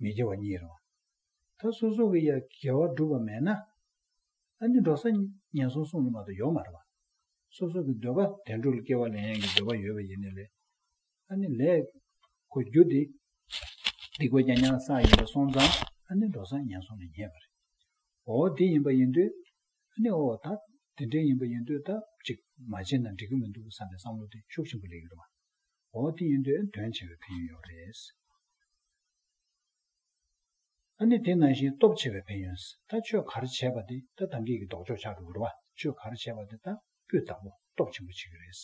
མི་དགེ་བ་གཉིས་རུང་བ། ད་སོ་སོ་གི་ཡ་གེ་བ་སྒྲུབ་པ་མེད་ན། ཨ་ནི་འགྲོ་ས་ངན་སོང་སྲུང་ལུ་མ་དང་ཡོག་མ་རེད་བ། སོ་སོ་གི་འདོད་པ་དེ་འགྲོ་ལུ་སྐྱེ་བ་ལེན་ཡང་གི་འདོད་པ་ཡོད་པ་ཡིན་ནི་ལེ། ཨ་ནི་ལེ། གོ་རྒྱུ་འདི། འདི་གོ་རྒྱ་ཉང་སང་ཡིན་པ་སོང་ཙང་ཨ་ནི་འགྲོ་ས་ངན་སོང་ལ་ཉེ་བ་རེད། འོ་འདི་ཡིན་པ་ཡིན་དུས། ཨ་ནི་འོ་ད་དེ་འདྲའི་ཡིན་པ་ཡིན་དུས་ད་ཅིག་མ་བྱེད་ན་འགྲིག་གི་མི་འདུག་བསམ་པའི་བསམ་བློ་དེ་ཤུགས་ཆེན་པོ་ལེགས་ཡོད་བ། ཨོ་དེ་ཡིན་དུས་དོན་ཆེ་བའི་ཕན་ཡོན་ཡོད་རེད། ཨ་ནི་དེ་ནང་བཞིན་སྟོབས་ཆེ་བའི་ཕན་ཡོན་ད་ཆོས་གར་བྱས་པ་དེ་ད་དང་གིས་ཀྱི་ལྡོག་ཕྱོགས་ཆགས་འགྲོ་གི་རེད་བ་ཆོས་གར་བྱས་པ་དེ་ད་སྤུས་དག་པོ་སྟོབས་ཆེན་པོ་བྱེད་ཀྱི་རེད།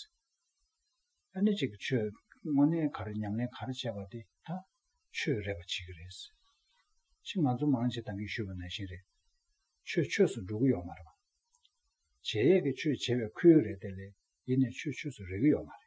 ཨ་ནི་གཅིག་ཆོས་དངོས་གནས་གར་ཉམས་ལེན་གར་བྱས་པ་དེ་ད་ཆོས་རེད་པ་བྱེད་ཀྱི་རེད། ཕྱིས་ང་ཚོ་མང་ཆེ་དང་གིས་ཞུས་པ་ནང་བཞིན་རེད། ཆོས་ཆོས་སུ་འགྲོ་གི་ཡོད་མ་རེད་བ། བྱས་ཡས་ཀྱི་ཆོས་བྱས་པའི་ཁུལ་རེད་དེ་ལས་ཡེ་ནས་ཆོས་ཆོས་སུ་རེག་གི་ཡོད་མ་རེད།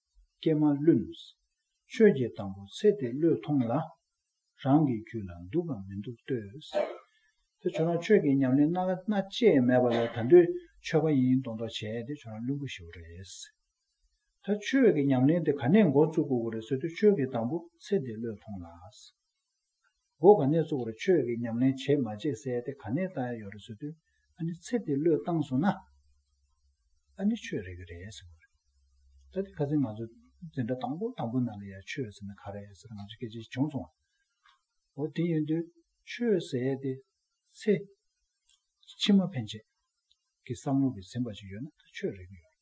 ཀྱེ་མ་བླུན། ཆོས་ཀྱི་དང་པོ་ཚེ་འདི་བློས་མཐོང་ལ། རང་གི་རྒྱུད་ལ་འདུག་གམ་མི་འདུག་ལྟོས། དེ་བྱུང་ན་ཆོས་ཀྱི་ཉམས་ལེན་སྣ་ཁ་སྣ་བཅས་མེད་པ་ལས་ད་འདོད་ཆོས་པ་ཡིན་མདོག་མདོག་བྱས་དེ་བྱུང་ན་བླུན་པོ་ཞིག་པོ་རེད། ད་ཆོས་ཀྱི་ཉམས་ལེན་དེ་ག་ནས་འགོ་བཙུགས་དགོས་ཀྱི་རེད་ཟེར་དུས་ཆོས་ཀྱི་དང་པོ་ཚེ་འདི་བློས་མཐོང་ལ། སྒོ་ག་ནས་བཙུགས་ར་ཆོས་ཀྱི་ཉམས་ལེན་བྱེད་མ་བྱེད་གསལ་ཏེ་ག་ནས་བལྟ་ཡ་ཡོད་རེད་ཟེར་དུས་ཨ་ནི་ཚེ་འདི་བློས་བཏང་སོང་ན་ཨ་ནི་ཆོས་རེད་གི་རེད་ཟེར་གོ་རེད། ད་དེ་ཁ་ཚིག་ང་ཚོ་འཛིན་གྲྭ་དང་པོ་དང་པོ་ནང་ལ་ཡ་ཆོས་ཟེར་ན་ག་རེད་ཟེར་ང་ཚོ་སྐད་ཆ་བྱུང་སོང་བ། འོ་དེ་ཡིན་དུས་ཆོས་ཟེར་ཏེ་ཚེ་ཕྱི་མ་ཕན་ཆད་ཀྱི་བསམ་བློ་གི་ཟིན་པ་ཞིག་ཡོད་ན་ད་ཆོས་རེད་གི་ཡོད་རེད།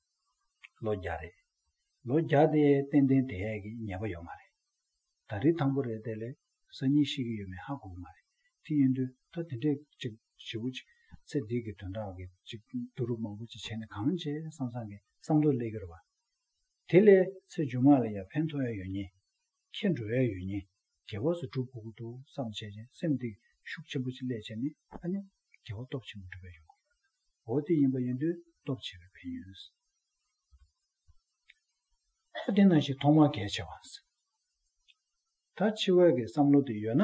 ལོ་བརྒྱ་རེད། ལོ་བརྒྱ་དེ་ཏན་ཏན་དེ་ཡས་ཀྱི་ཉེས་པ་ཡོད་མ་རེད། ད་རི་དང་པོ་རེད་དེ་ལས་གཟའ་གཉིས་ཤིག་གི་ཡོད་མེད་ཧ་གོ་གི་མ་རེད། དེ་ཡིན་དུས་ད་དེ་འདྲས་ཅིག་བྱེད་པོ་ཅིག་ཚེ་འདི་གི་དོན་དག་གི་ཅིག་བསྡུ་རུབ་མང་པོ་ཅིག་བྱས་ནས་གང་བྱས་བསམ་བསམ་གི་བསམ་ཐོག་སླེབས་ཀྱི་རེད་བ། དེ་ལས་ཚེ་མཇུག་མ་ལ་ཡང་ཕན་ཐོག་ཡོད་ངེས། ཁྱེད་འགྲོ་ཡ་ཡོད་ཉེ། རྒྱལ་བ་སུ་འགྲུབ་དགོས་ཀྱི་འདུག་བསམ་བྱས་ཅན་སེམས་སྟེང་ཤུགས་ཆེན་པོ་ཅིག་སླེད་བྱས་ནས་ཨ་ནི། རྒྱལ་བ་སྟོབས་ཆེན་པོ་འགྲུབ་ཡ་ཡོང་གི་རེད། འོ་དེ་ཡིན་པ་ཡིན་དུས་སྟོབས་ཆེ་བའི་ཕན་ཡོན། ཨོ་དེ་ན་ཞིག་ཐོག་མར་གལ་ཆེ་བ། ད་འཆི་བའི་གི་བསམ་བློ་དེ་ཡོད་ན།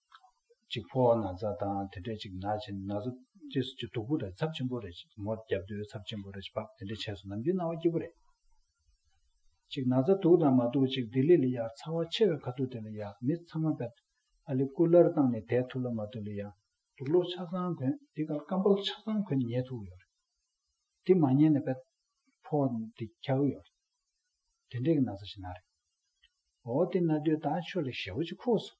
ཅིག་ཕོ་བ་ན་བཟའ་དང་དེ་འདྲས་ཅིག་ནག་ཅིང་ན་ཟུག་རྗེས་སུ་ཅི་དུག་པོ་རེ་ཚབ་ཆེན་པོ་རེ་ཅིག་མོ་རྒྱབ་རྡོའི་ཚབ་ཆེན་པོ་རེ་ཅིག་བབས་དེ་འདྲས་བྱས་སོ་ནམ་རྒྱུན་ན་བ་སྐྱིད་པོ་རེ་ཅིག་ན་བཟའ་དུག་དང་མ་དུག་ཅིག་ལྡི་ལི་ལི་ཡག་ཚ་བ་ཆེ་བའི་ཁ་ཐུག་དེ་ལ་ཡག་མི་ཚང་མ་བབས་ཨ་ལི་སྐུ་ལར་བཏང་ནས་དད་ཐུག་ལ་མ་ཐུག་ལི་ཡག། དུག་ལོག་ཆ་ཚང་གོན་དེ་གར་སྐམ་པོ་ལ་ཆ་ཚང་གོན་ཉལ་ཐུག་ཡོད་རེད་དེ་མ་ཉལ་ནས་བབས་ཕོ་བ་འདི་འཁྱག་གི་ཡོད་རེད་དེ་འདྲས་ཀྱི་ན་བཟའ་ཞིག་ན་རེད་འོ་དེ་ན་དུས་ད་ཁྱོད་ལ་ཞལ་བོ་ཅིག་ཁུགས་སོང།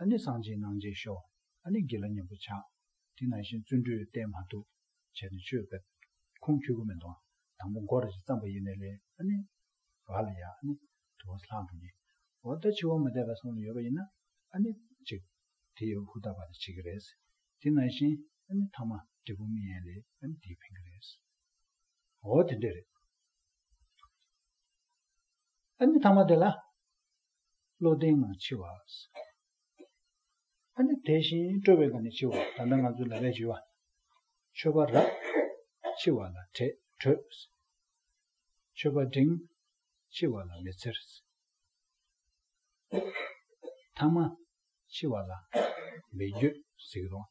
ཨ་ནི་སངས་རྒྱས་སྣང་བྱེད་ཤོག། ཨ་ནི་དགེ་ལ་མཉམ་པོ་ཆགས། དེ་ན་བཞིན་བརྩོན་འགྲུས་བརྟན་མ་ཐུབ། བྱས་ནས་ཆོས་བརྒྱབ། ཁུངས་འཁྱུད་གོ་མེད་འདུག། དང་པོ་མགོ་ར་ཅིག་བརྩམས་པ་ཡེ་ནས་ལས་ཨ་ནི། བ་ལ་ཡ་ཨ་ནི། དུ་བ་ས་ལྷག་འགྲོ་ཉེ། འོ་ད་འཆི་བ་མ་འདས་པ་སོང་ནས་ཡོད་པ་ཡིན་ན། ཨ་ནི། ཅིག། དེ་ཡོད་ཧུར་ཐག་པ་ནི་བྱེད་ཀྱི་རེད། དེ་ན་བཞིན། ཨ་ནི་མཐའ་མ། འབྲས་བུ་མི་ཡན་ལས་ཨ་ནི་དེས་ཕན་གྱི་རེད། འོ་དེ་འདྲས་རེད། ཨ་ནི་མཐའ་མ་དེ་ལ། བློ་ལྡན་ངང་འཆི་བ། ཨ་ནི་དེ་བཞིན་སྤྲོ་བའི་སྒང་ནས་འཆི་བ། ད་ལྟ་ང་ཚོའི་ལ་བས་འཇུས་བ། མཆོད་པ་རབ། འཆི་བ་ལ་བྲེད་བྲོད། མཆོད་པ་འབྲིང། འཆི་བ་ལ་མི་འཚེར། ཐ་མ། འཆི་བ་ལ། མི་འགྱོད། ཟིག་རོང།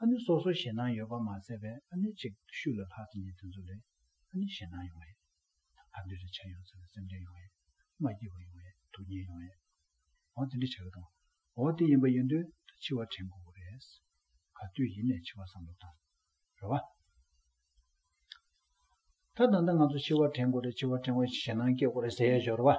ཨ་ནུ་སོ་སོ་ཞེད་སྣང་ཡོད་པ་མ་ཟད་པས་ཨ་ནུ་ཅིག་ཤོས་ལ་ལྷག་ཅིང་ཉེ་དུ་འཛུལ་བས་ཨ་ནུ་ཞེད་སྣང་ཡོང་བས། ཕར་འདོད་རེ་ཆ་ཡོང་ཟེར་བའི་སེམས་ཁྲལ་ཡོང་བས། མ་སྐྱིད་པ་ཡོང་བས་སྡུག་བསྔལ་ཡོང་བས། འོ་དེ་འདྲ་བྱ་གི་དང། འོ་དེ་ཡིན་པ་ཡིན་དུས་ད་འཆི་བ་དྲན་དགོས་པོ་རེད། ག་དུས་ཡིན་ནས་འཆི་བ་བསམ་བློ་བཏང། རེད་བ། ད་ད་ལྟ་ང་ཚོ་འཆི་བ་དྲན་དགོས་རེད་འཆི་བ་དྲན་བས་ཞེད་སྣང་སྐྱེ་དགོས་རེད་ཟེར་ཡས་ཤོག་རེད་བ།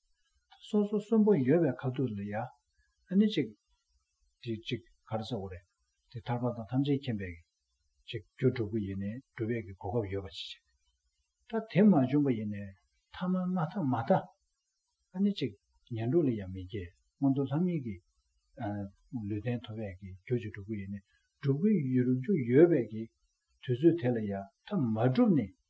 སོ་སོ་གསོན་པོ་ཡོད་པའི་ཁ་ཐུག་ལ་ཡ། ཨ་ནི་ཅིག། དེ་ཅིག་ག་རེ་ཟེར་བ་རེད། དེ་ཐར་པ་དང་ཐམས་ཅད་མཁྱེན་པའི། ཅིག། རྒྱུ་སྒྲུབ་པོ་ཡིན་ནས་སྒྲུབ་པའི་གི་གོ་སྐབས་ཡོད་པ་ཅི་བྱེད། ད་དེ་མ་བྱུང་པ་ཡིན་ནས་ཐ་མ་མ་ཐ་མ་ཐ། ཨ་ནི་ཅིག། ཉན་སྒྲུབ་ལ་ཡང་མི་སྐྱེ་སྔོན་དུ་ལྷ་མིན་གྱི། ལུས་རྟེན་ཐོབ་པའི་གི་རྒྱུ་ཅིག་སྒྲུབ་པོ་ཡིན་ནས་སྒྲུབ་པོའི་ཡུལ་རྒྱུ་ཡོད་པའི་གི། དུས་ཚོད་དེ་ལ་ཡ། ཐ་མ་སྒྲུབ་ནས